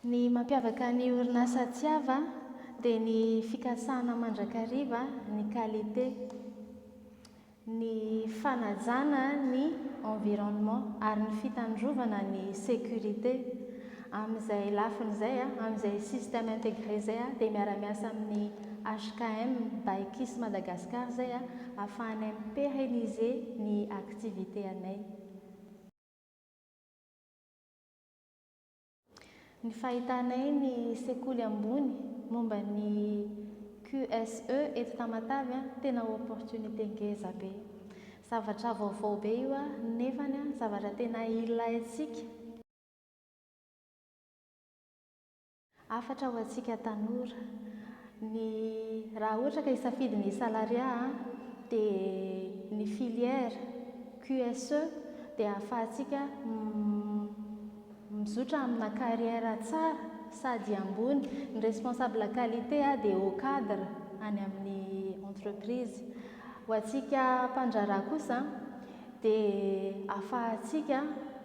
Ny mampiavaka ny orinasa Tsiava dia ny fikasana mandrakariva ny qualité, ny fanajana ny environnement ary ny fitandrovana ny sécurité. Amin'izay lafiny izay, amin'izay système intégré izay dia miara-miasa amin'ny HKM by Kiss Madagascar izay ahafahanay mi-pérenniser ny activité. activités anay. Ny fahitanay ny sekoly ambony momba ny QSE eto Tamatave tena opportunité ngeza be. Zavatra vaovao be io nefany zavatra tena ilaintsika. Hafatra ho antsika tanora. Ny raha ohatra ka hisafidy ny salariat a, dia ny filière QSE dia ahafahantsika mizotra amina carrière tsara sady ambony. Ny responsable qualité dia haut cadre any amin'ny entreprise. Ho antsika mpandraharaha kosa dia afahantsika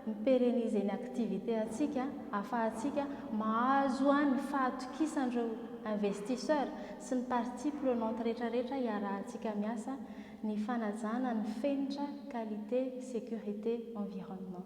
mi-pérenniser ny activité antsika, afahantsika mahazo ny fahatokisan'ireo investisseurs sy ny parties prenantes retraretra hiarahantsika miasa ny fanajana ny fenitra qualité, sécurité, environnement.